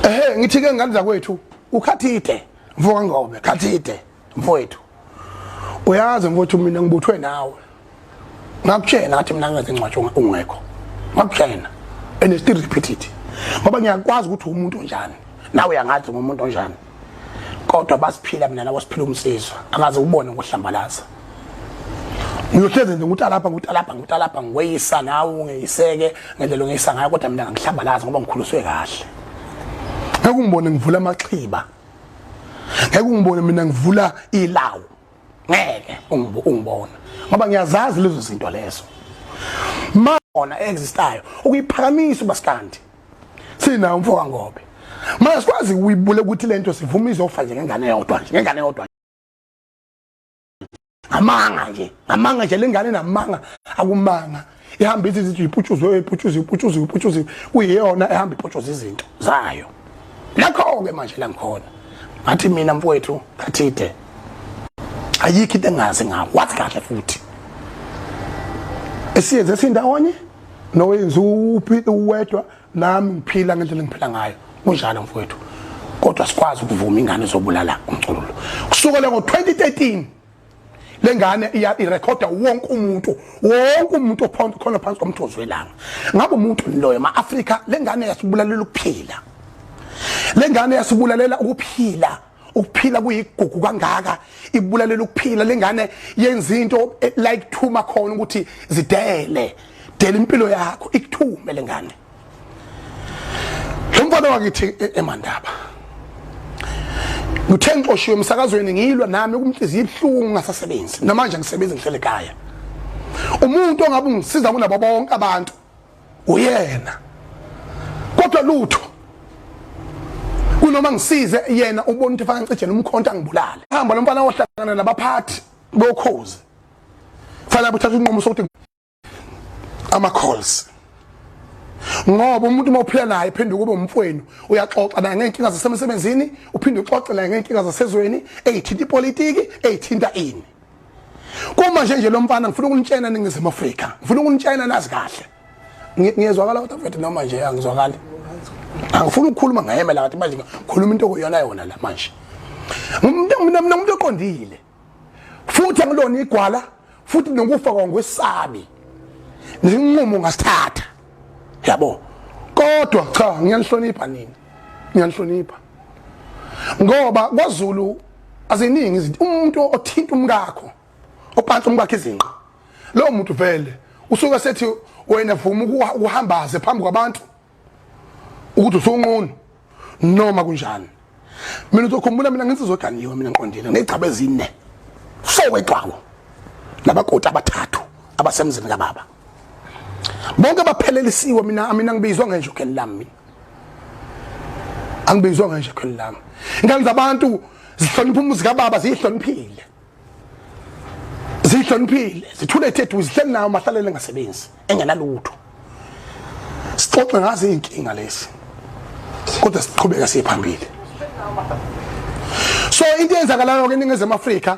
ehe ngithi ke ngane zakwethu ukhathide mfoka ngobe khathide mfowethu uyazi mfowethu mina ngibuthwe nawe ngakutshela ngathi mina ngenze incwatsho ungekho ngakutshela and still repeat it ngoba ngiyakwazi ukuthi umuntu onjani nawe uyangathi ngumuntu onjani kodwa basiphila mina nabo siphila umsizwa angaze ubone ngohlambalaza ngiyohlezi nje ukuthi alapha ukuthi alapha ukuthi alapha ngiweyisa nawe ungeyiseke ngendlela ongeyisa ngayo kodwa mina ngihlambalaza ngoba ngikhuliswe kahle ngeke ungibone ngivula amaxhiba ngeke ungibone mina ngivula ilawu ngeke ungibona ngoba ngiyazazi lezo zinto lezo ma ona existayo ukuyiphakamisa ubasikandi sina umfo wangobe manje sikwazi uyibule ukuthi lento sivuma izofa nje ngengane yodwa nje ngengane yodwa amanga nje amanga nje lengane namanga akumanga ihamba ithi ithi iputshuzwe iputshuzwe iputshuzwe iputshuzwe kuyiyona ehamba iputshuzwe izinto zayo lakho ke manje la ngikhona ngathi mina mfowethu kathide ayikho into engazi ngawo wathi kahle futhi esiyenze sindawonye nowenza uphi uwedwa nami ngiphila ngendlela engiphila ngayo kunjalo mfowethu kodwa sikwazi ukuvuma ingane zobulala umculo kusukela ngo-2013 le ngane irekhoda wonke umuntu wonke umuntu ophonda khona phansi komthozi welanga ngabe umuntu loyo ma-afrika le ngane yasibulalela ukuphila le ngane yasibulalela ukuphila ukuphila kuyigugu kangaka ibulalela ukuphila lengane yenza into eh, like thuma khona ukuthi zidele dela impilo yakho ikuthume lengane lo mfana wakithi eh, emandaba ngithe ngixoshiwe emsakazweni ngilwa nami ukumhliziyo ibuhlungu ngasasebenzi namanje ngisebenza ngihlele ekhaya umuntu ongabe ungisiza kunabo bonke abantu uyena kodwa lutho kunoma ngisize yena ubona ukuthi fanele ngicijele umkhonto angibulale hamba lo mfana ohlangana nabaphathi bokhozi fanele uthathe unqumo sokuthi ama calls ngoba umuntu uma uphila naye phinde kube umfweni uyaxoxa naye ngeenkinga zasemsebenzini uphinde uxoxe naye ngeenkinga zasezweni eyithinta ipolitiki eyithinta ini Kuma nje nje lo mfana ngifuna ukunitshena ningizimu Afrika. Ngifuna ukunitshena nazi kahle. Ngiyezwakala kodwa mfethu noma nje angizwakali. Angifuni ukukhuluma ngayemela kathi manje ngikhuluma into okuyona yona la manje. Umuntu umuntu oqondile. Futhi angilona igwala futhi nokufa kwangwesabi. Ninqumo ngasithatha. Yabo. Kodwa cha ngiyanihlonipha nini? Ngiyanihlonipha. Ngoba kwaZulu aziningi izinto umuntu othinta umkakho opansa umkakhe izinqa lowo muntu vele usuke sethi wena vuma ukuhambaze phambi kwabantu ukuthi usunqunu noma kunjani mina uzokhumbula mina nginsizwa ganiwe mina ngiqondile ngegcaba ezine so wegcwawo nabakoti abathathu abasemzini kababa bonke baphelelisiwe mina mina ngibizwa ngenje ukheli lami mina angibizwa ngenje ukheli lami ingane zabantu zihlonipha umuzi kababa ziyihloniphile zihloniphile zithule thethu zihleli nayo mahlalele ngasebenzi engenalutho sixoxe ngazo izinkinga lezi kodwa siqhubeka siye phambili so into eyenzakalayo ke eningizimu afrika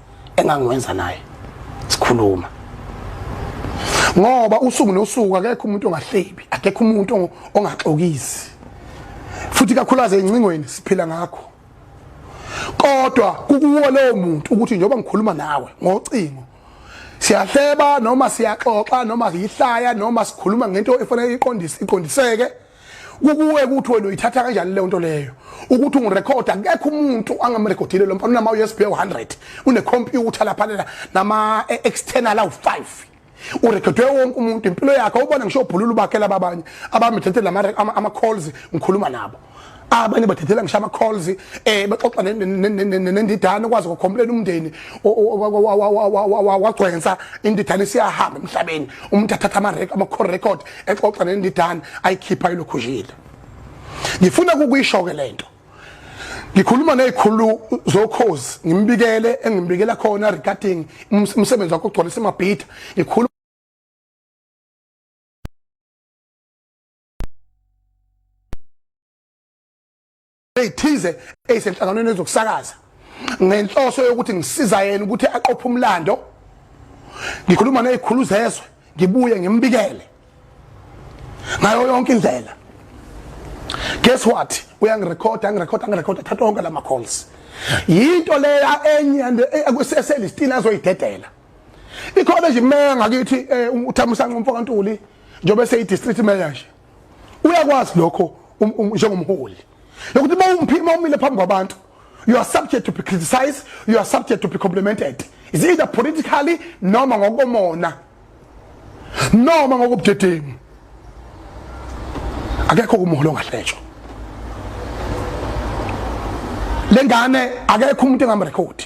engangiwenza naye sikhuluma ngoba usuku nosuku akekho umuntu ongahlebi akekho umuntu ongaxokisi futhi kakhulaze incingweni siphila ngakho kodwa kukuwo lowo muntu ukuthi njengoba ngikhuluma nawe ngocingo siyahleba noma siyaxoxa noma yihlaya noma sikhuluma ngento efanele iqondise iqondiseke kukuwe ukuthi wena uyithatha kanjani leyo nto leyo ukuthi ungirekhode akekho umuntu angamrekhodile lo mfana unama-usb u-100 unekhompyutha laphanela nama-external awu-five urekhodwe wonke umuntu impilo yakhe ubona ngisho ubhulula ubakhela babanye abamithethela ama-calls ngikhuluma nabo abanye bathethela ngisho ama-calls um eh, bexoxa nendidane ukwazi ukukhombuleni umndeni wagcwensa indidane siyahamba emhlabeni umuntu athatha ama-call record exoxa nendidane ayikhipha ilokhushile ngifuna kukuyisho-ke le nto ngikhuluma nezikhulu zokhozi ngimbikele engimbikela khona regarding umsebenzi wakho ogcwalisa amabhida ngikhuluma ezithize ezisenhlanganweni ezokusakaza ngenhloso yokuthi ngisiza yena ukuthi aqophe umlando ngikhuluma nezikhulu zezwe ngibuye ngimbikele ngayo yonke indlela guess what uyangirekhoda angirekhoda angirekhoda thatha wonke lama calls yinto leya enye eselistini azoyidedela ikhona nje imeya ngakithi eh, uthamusanqa umfoka ntuli njengoba seyi-district mayor nje uyakwazi lokho um, um, njengomholi lokuthi uma umphima umile phambi kwabantu you are subject to be criticized you are subject to be complimented is either politically noma ngokomona noma ngokubudedengu akekho kumholo ongahlejwa lengane akekho umuntu engamrekhodi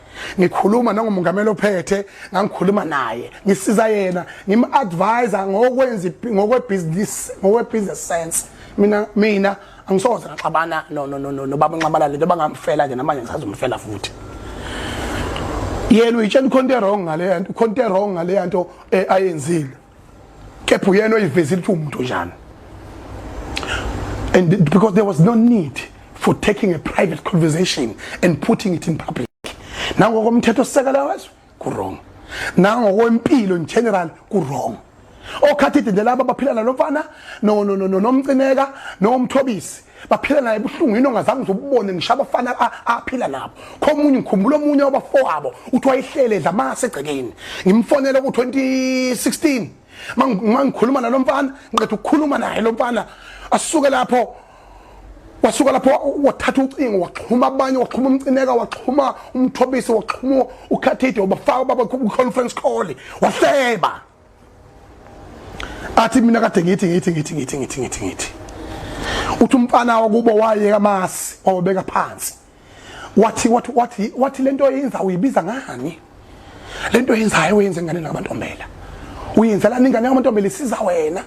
ngikhuluma nangomongameli ophethe ngangikhuluma naye ngisiza yena ngim-advise ngokwenza ngokwebhizinisi ngokwebusiness sense mina mina angisoze ngaxabana nobaba nxamalale ntoba ngamfela nje namanje ngisazomfela futhi yena uyitshela ikhonto erong ngaleyanto ikhonto erong ngaleyanto eh, ayenzile kepha uyena oyivezile ukuthi umuntu njani and because there was no need for taking a private conversation and putting it in public nangokomthetho sisekela wezwe ku-wrong nangokwempilo in general ku-wrong okhathide nje laba baphila nalomfana nomcineka nomthobisi baphila naye buhlungu yini ongazange uzobubone ngisho abafana aphila nabo khomunye ngikhumbula omunye wabafowabo uthi wayehlele edla amase egcekeni ngimfonele ku-2016 mangikhuluma nalo mfana ngiqeda ukukhuluma naye lo mfana asuke lapho wasuka lapho wathatha ucingo waxhuma abanye waxhuma umcineka waxhuma umthobisi waxhuma ukhathide wabafaka baba conference call wahleba athi mina kade ngithi ngithi ngithi ngithi ngithi ngithi ngithi uthi umfana wakubo wayeka amasi wawabeka phansi wathi wathi wathi wathi lento yenza uyibiza ngani lento yenzayo uyenze ngane namantombela uyenzela ingane yamantombela isiza wena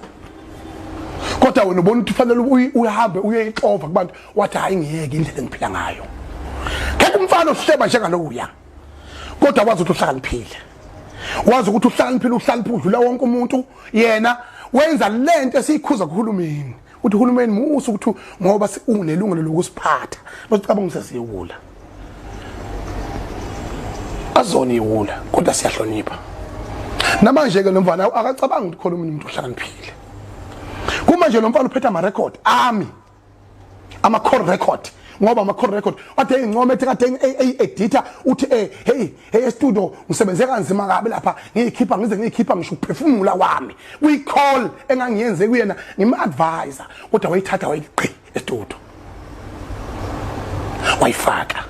kodwa wena ubona ukuthi ufanele uhambe uyoyixova kubantu wathi hayi ngiyeke indlela engiphila ngayo ngeke umfana ohleba njengalokuya kodwa wazi ukuthi uhlakaniphile wazi ukuthi uhlakaniphile uhlakaniphe udlula wonke umuntu yena wenza lento esiyikhuza kuhulumeni uthi uhulumeni musa ukuthi ngoba unelungelo lokusiphatha basicabanga sesiyewula azona iwula kodwa siyahlonipha namanje ke lomfana akacabanga ukuthi khona umuntu ohlakaniphile kuma nje lomfana uphetha ama record ami ama call record ngoba ama call record ade engincome ethi kade e-, editor uthi eh hey hey studio ngisebenze kanzima kabi lapha ngiyikhipha ngize ngiyikhipha ngisho ukuphefumula wami kwi call engangiyenze kuyena ngim advisor kodwa wayithatha wayiqi estudio wayifaka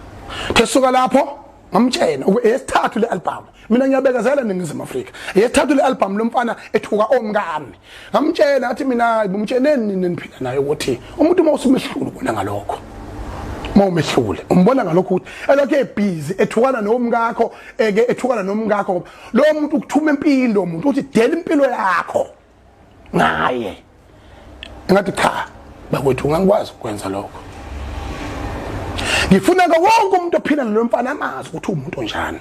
thesuka lapho ngamtshena esithathu le album mina ngiyabekezela ningizimu Afrika esithathu le album lomfana ethuka omkami ngamtshena athi mina ngimtsheneni nini niphila naye ukuthi umuntu uma usumehlulu bona ngalokho uma umehlule umbona ngalokho ukuthi elokhu ebhizi ethukana nomkakho eke ethukana nomkakho lo muntu ukuthuma impilo umuntu uthi dela impilo yakho ngaye ngathi cha bakwethu ngangikwazi ukwenza lokho ngifuna ke wonke umuntu ophila nalo mfana amazi ukuthi umuntu onjani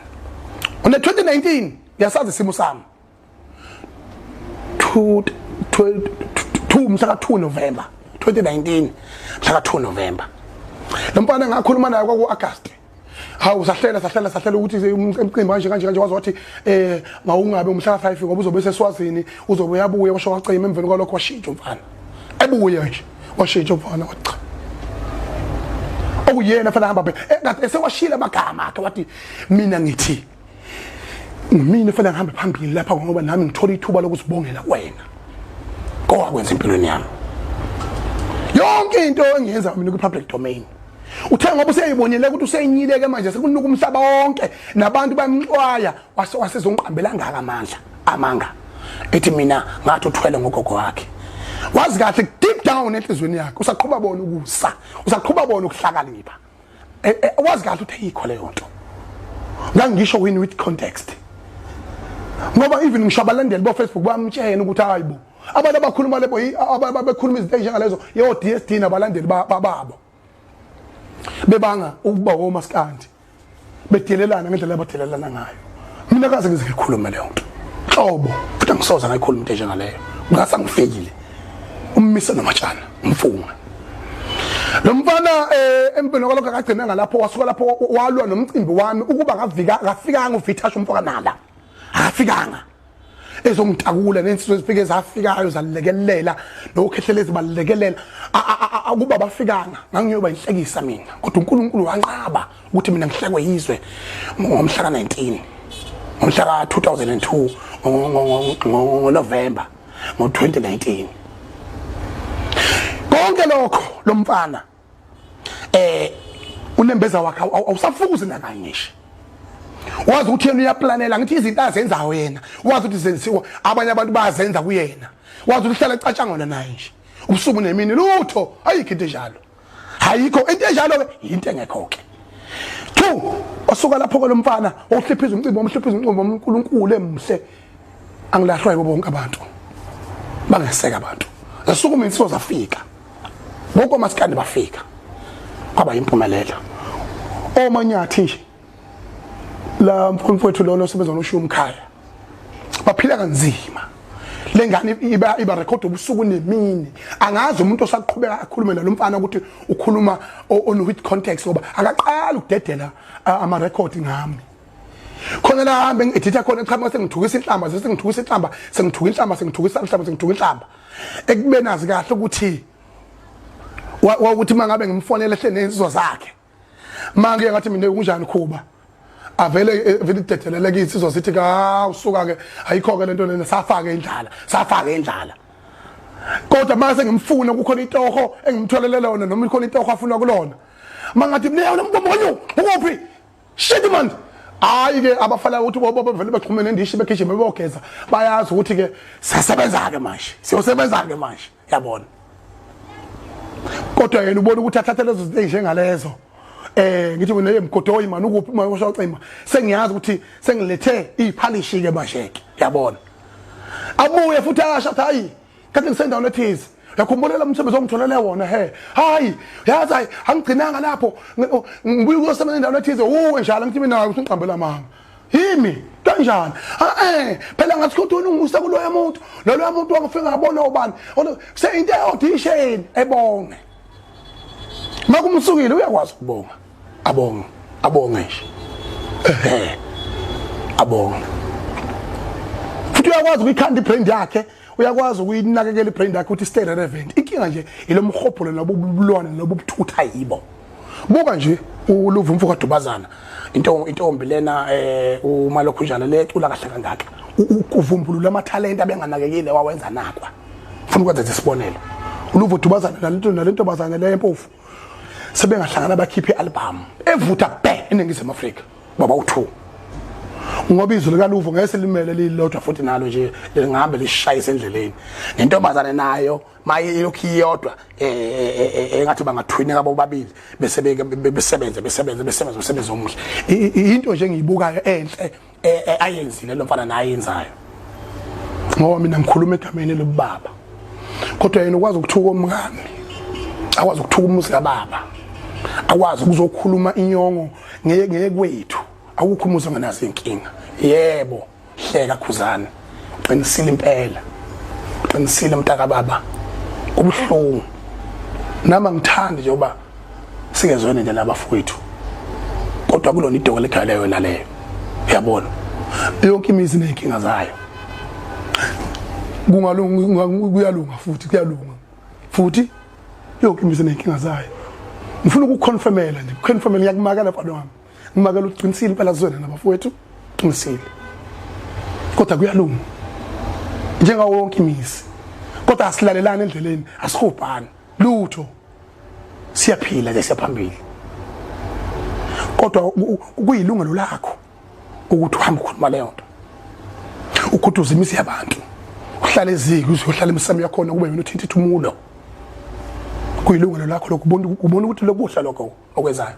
one 2019 ngiyasazi isimo sami 2 2 mhla ka 2 November 2019 mhla ka 2 November lo mfana ngakhuluma naye kwaku August hawu sahlela sahlela sahlela ukuthi emqimbi kanje kanje kanje wazi wathi eh mawungabe umhlala five ngoba uzobe seswazini uzobe yabuya washo wacima emveni kwalokho washintsha umfana ebuye nje washintsha umfana wathi cha okuyena fanele hamba phela esewashila amagama akhe wathi mina ngithi mina fanele ngihambe phambili lapha ngoba nami ngithola ithuba lokusibongela kwena kowakwenza empilweni yami yonke into engiyenza mina kwi-public domain uthe ngoba useyibonile ukuthi useyinyileke manje sekunuka umhlaba wonke nabantu bamxwaya wase wasezongiqambela ngaka amandla amanga ethi mina ngathi uthwele ngogogo wakhe wazi kahle deep down enhlizweni yakhe usaqhuba bona ukusa usaqhuba bona ukuhlakanipha e, e, wazi kahle ukuthi ayikho leyo nto ngangisho wini with context ngoba even ngisho abalandeli bofacebook bamtshena ukuthi hayi bo abantu abakhuluma lebo ababekhuluma izinto ezinjengalezo yo DSD nabalandeli bababo bebanga ukuba womaskandi bedelelana ngendlela abadelelana ngayo mina kaze ngize ngikhulume leyo nto hlobo futhi angisoze ngayikhuluma into enjengaleyo ngase angifeyile ummise nomatshana umfunga lo mfana eh empini kwalokho akagcina ngalapho wasuka lapho walwa nomcimbi wami ukuba ngafika kafikanga uvithasha umfoka nala akafikanga ezongitakula nensizwe ezifike zafikayo zalekelela nokhehlela ezibalekelela akuba bafikanga ngangiyoba inhlekisa mina kodwa uNkulunkulu wanqaba ukuthi mina ngihlekwe yizwe ngomhla ka 19 ngomhla ka 2002 ngoNovember ngo 2019 konke lokho lomfana eh unembeza wakhe awusafukuzi nakanye nje wazi ukuthi yena uyaplanela ngithi izinto azenzayo yena wazi ukuthi zenziwa abanye abantu bayazenza kuyena wazi ukuthi uhlala ecatshangona naye nje ubusuku nemini lutho ayikho into enjalo ayikho into enjalo ke yinto engekho ke two osuka lapho kolomfana ohliphiza umcimbi omhliphiza umcimbi omkhulu uNkulu emhle angilahlwa yibo bonke abantu bangeseka abantu zasuku mina sizo zafika bonke omasikandi bafika kwaba yimpumelelo omanyathi nje la mfowethu lona osebenza noshiya umkhaya baphila kanzima lengane iba iba record ubusuku nemini angazi umuntu osaqhubeka akhulume nalomfana ukuthi ukhuluma on with context ngoba akaqala ukudedela ama record ngami khona la hambe ngiditha khona eqhamuka sengithukisa inhlamba sengithukisa inhlamba sengithuka inhlamba sengithukisa inhlamba sengithuka inhlamba ekube nazi kahle ukuthi wawuthi mangabe ngimfonela ehle nensizwa zakhe manje ngathi mina kunjani khuba avele eh, vele idedelele kithi sizwa sithi ka usuka ke ayikho ke lento lena safake indlala safake indlala kodwa mase ngimfuna kukhona itoho engimtholele lona noma ikhona itoho afuna kulona mangathi mina yona mntombo wenu ukuphi shit manje hayi ke abafana ukuthi bobo bevele baxhumene ndishi begijima beyogeza bayazi ukuthi ke siyasebenza ke manje siyosebenza ke manje yabona kodwa yena ubona ukuthi athathe lezo zinto njengalezo eh ngithi mina emgodoyi mani ukuphi manje usho cima sengiyazi ukuthi sengilethe iphalishi ke manje ke yabona abuye futhi asho hayi kanti ngisendaweni ethize yakhumbulele umsebenzi ongitholele wona he hayi yazi hayi angigcinanga lapho ngibuye kuyosebenza endaweni ethize uwe njalo ngithi mina usungiqambela mama yimi kanjani eh phela ngathi ukuthi unungisa kuloya muntu loloya muntu wangifika ngabona ubani kuse into eaudition ebonge makumsukile uyakwazi ukubonga abonge abonge nje ehe abonge futhi uyakwazi ukuyikhanda ibrand yakhe uyakwazi ukuyinakekela ibrand yakhe ukuthi stay relevant inkinga nje ilomhobholo lobu bulwane lobu buthutha yibo buka nje uluva umfo kadubazana into intombi lena eh uma lokhu njalo le cula kahle kangaka ukuvumbulula amathalente abenganakekile wawenza nakwa ufuna ukwenza isibonelo uluva udubazana nalento nalento bazana le mpofu sebengahlangana bakhiphe i-albhamu evutha bhe eningizimu afrika baba u-two ngoba izwi likaluvo ngeke selimele lilodwa futhi nalo nje lingahambe lishayise endleleni nentombazane nayo maye ilokhu iyodwa eh, eh, eh, engathi bangathwineka bobabili bese besebenze besebenze besebenze umsebenzi omuhle into nje engiyibukayo enhle eh, eh, ayenzile lo mfana naye yenzayo ngoba mina ngikhuluma egameni lobaba kodwa yena ukwazi ukuthuka omngami akwazi ukuthuka umuzi kababa akwazi ukuzokhuluma inyongo ngeke kwethu awukho umuzi onganazo inkinga yebo hleka khuzana qinisile impela qinisile mntaka baba ubuhlungu nama ngithandi nje uba singezwene nje nabafowethu kodwa kulona idoko legale yona leyo uyabona yonke imizi nenkinga zayo kungalunga kuyalunga futhi kuyalunga futhi yonke imizi nenkinga zayo ngifuna ukuconfirmela nje kuconfirmela ngiyakumakela kwalo wami ngimakela uqinisile impela zona nabafowethu qinisile kodwa kuyalunga njengawo wonke imizi kodwa asilalelani endleleni asihubhani lutho siyaphila nje siyaphambili kodwa kuyilungelo lakho ukuthi uhambe ukhuluma leyo nto ukhuduza imizi yabantu uhlale eziki uzohlala emisamo yakhona kube yona uthinta ithumulo kuyilungelo lakho lokubona ukuthi lokuhla lokho okwenzayo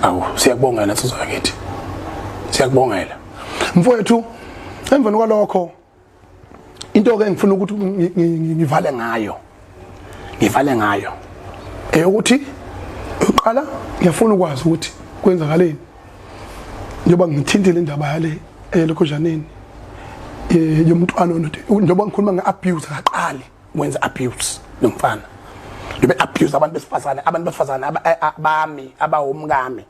awu siyakubongela nsizwa yakithi siyakubongela mfowethu emveni kwalokho into ke ngifuna ukuthi ngivale ngayo ngivale ngayo eyokuthi uqala ngiyafuna ukwazi ukuthi kwenzakaleni njengoba ngithintile indaba yale elokhozhaneni eh, yomntwana njengoba ngikhuluma nge-abuse akaqali wenza abuse nomfana ngibe abuse abantu besifazane abantu besifazane abami abawomkami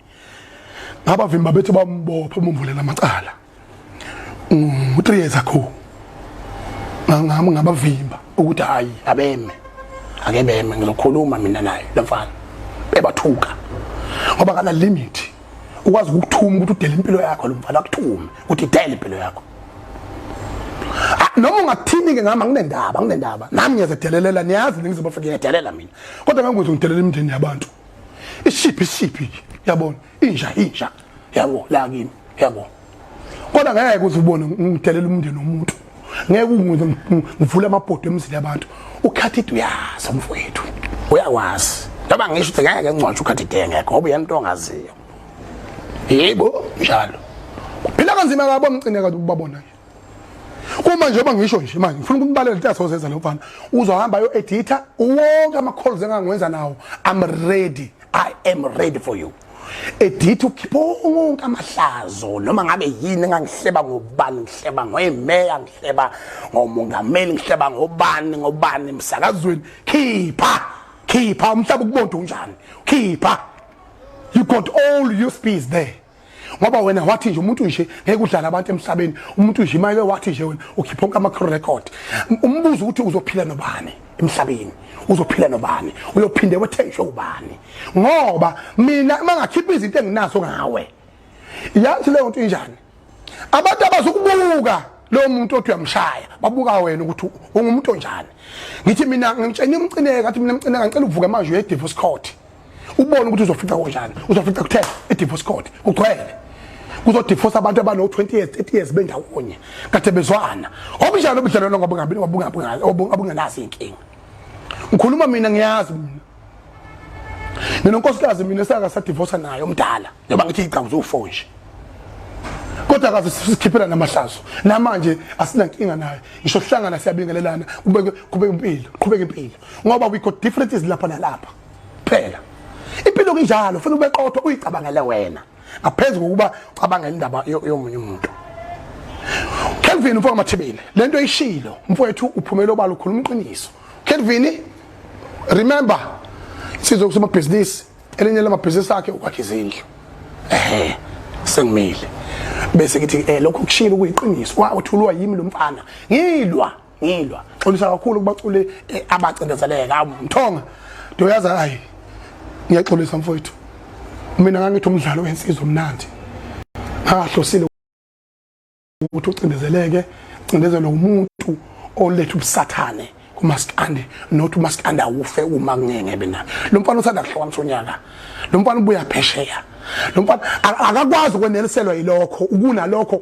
ngabavimba bethi bambopha umvulela amacala u 3 years ago ngangami ngabavimba ukuthi hayi abeme akebeme ngizokhuluma mina naye lomfana bebathuka ngoba kana limit ukwazi ukukuthuma ukuthi udele impilo yakho lo mfana akuthume ukuthi dele impilo yakho ah, noma ungathini-ke ngami anginendaba anginendaba nami ngiyazedelelela niyazi ningiziba fika ngiyadelela mina kodwa ngangikwenza ngidelela imindeni yabantu ishiphi ishiphi yabona inja inja yabo la kimi yabo kodwa ngeke uze ubone ngidelela umndeni womuntu ngeke ungize ngivule amabhodo emzini yabantu ukhathide uyazi mfowethu uyakwazi noma ngisho ukuthi ngeke ngingconshe ukhathide ngeke ngoba uyena into ongaziyo yebo njalo phila kanzima kabo mcine kanti ukubabona nje uma njengoba ngisho nje manje ngifuna ukubaleka lento asozenza lo mfana uzohamba yo edita wonke ama calls engangiwenza nawo i'm ready i am ready for you editha ukhipha wonke amahlazo noma ngabe yini engangihleba ngobani ngihleba ngoyimeya ngihleba ngomongameli ngihleba ngobani ngobani emsakazweni khipha khipha umhlaba ukubonda unjani khipha you got all your speeds there ngoba wena wathi nje umuntu nje ngeke udlala abantu emhlabeni umuntu nje imake wathi nje wena ukhipha onke ama-record umbuzo ukuthi uzophila nobani emhlabeni uzophila nobani uyophinde wethenjwe ubani ngoba mina mangakhipha izinto enginazo ngawe yazi leyo nto injani abantu abazokubuka lo muntu othi uyamshaya babuka wena ukuthi ungumuntu onjani ngithi mina ngimtshena imcineka athi mina mcineka ngicela uvuke manje uye divorce court ubone ukuthi uzofica konjani uzofica kuthe edivorce court kugcwele kuzodivorce abantu abano-20 years 30 years bendawonye kade bezwana obunjani obudlalelo ngobungenazo iy'nkinga ngikhuluma mina ngiyazi mina mina unkosikazi mina saka sadivorsa naye omdala njengoba ngithi igcawu zowu-four nje kodwa kaze sikhiphela namahlazo namanje asinankinga naye ngisho sihlangana siyabingelelana kubeke impilo qhubeke impilo ngoba we got differences lapha nalapha phela impilo kunjalo ufuna ube qotho uyicabangele wena ngaphezu kokuba ucabangela indaba yomunye umuntu Kelvin mfowethu mathibile lento ishilo mfowethu uphumela obala ukhuluma iqiniso Kelvin remember sizwe kusoma business elinye lamabhizinisi akhe ukwakhe izindlu ehe sengimile bese ngithi eh lokho kushilo kuyiqiniso wa uthulwa yimi lomfana ngilwa ngilwa xolisa kakhulu kubaculi eh, abacindezeleka mthonga ndoyazi hayi ngiyaxolisa mfowethu mina ngangithi umdlalo wensizwa omnandi ngahlosile ukuthi ucindezeleke cindezelwe umuntu oletha ubusathane kumaskande not umaskande awufe uma kungeke bena lo mfana usanda kuhlokamisa unyaka lo mfana ubuya phesheya lo mfana akakwazi ukweneliselwa yilokho ukunalokho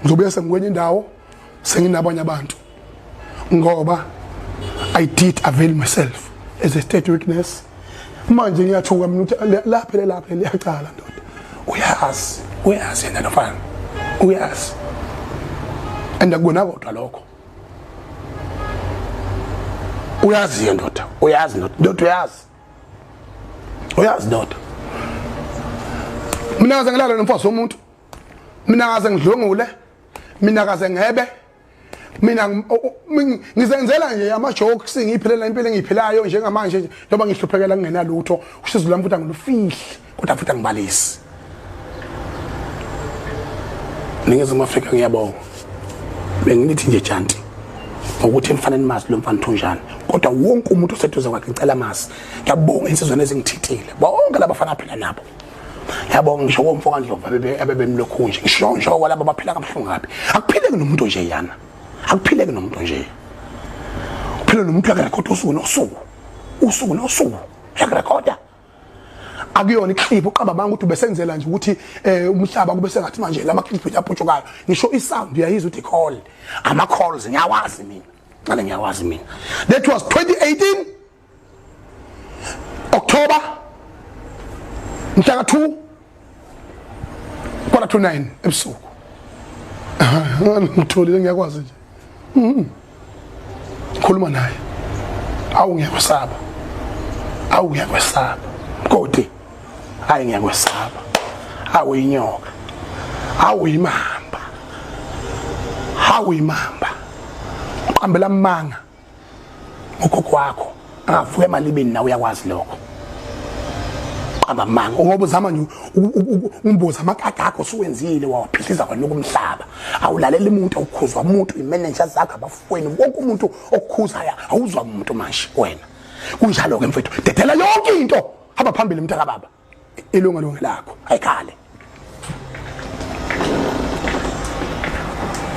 ngizobuya sengikwenye indawo senginabanye abantu ngoba i did avail myself as a state witness manje ngiyathuka mina ukuthi lapha lelapha liyacala ndoda uyazi uyazi yena lofana uyazi and akubona kodwa lokho uyazi yena ndoda uyazi ndoda ndoda uyazi uyazi ndoda mina ngaze ngilala nomfazi womuntu mina kaze ngidlwengule mina kaze ngebe mina ngizenzela nje ama jokes ngiphilela impilo engiyiphilayo njengamanje nje noma ngihluphekela kungena lutho usizo lami futhi angilufihle kodwa futhi angibalisi ningezimu afrika ngiyabonga benginithi nje janti ngokuthi emfaneni mazi lo mfana thunjani kodwa wonke umuntu oseduze kwakhe ngicela mazi ngiyabonga insizweni ezingithithile bonke labafana aphila nabo yabo ngisho komfo kaNdlovu abebemlokhu nje ngisho ngisho kwalabo baphila kabuhlungu kabi akuphileki nomuntu nje yana akuphileki nomuntu nje uphila nomuntu akarekhoda usuku nosuku usuku nosuku uyakurekhoda akuyona iclip uqamba manga ukuthi ubesenzela nje ukuthi eh, umhlaba kube sengathi manje lama clip yaputshukayo ngisho i sound uyayizwa ukuthi call ama calls ngiyawazi mina ngale ngiyawazi mina that was 2018 October mhla ka 2 kwala to 9 ebusuku ngitholile ngiyakwazi nje mhm. khuluma naye awu ngiyakwesaba awu ngiyakwesaba kodi hayi ngiyakwesaba awu inyoka awu imamba awu imamba qambela manga ugogo wakho angavuka emalibeni nawe uyakwazi lokho qamba manga ngoba uzama nje umboza amakaka akho suwenzile wawaphihliza kwena ukumhlaba awulalela umuntu awukhuzwa umuntu imanager zakho abafweni wonke umuntu okukhuzayo awuzwa umuntu manje wena kunjalo ke mfethu dedela yonke into hamba phambili mntaka baba ilunga lunga lakho ayikhale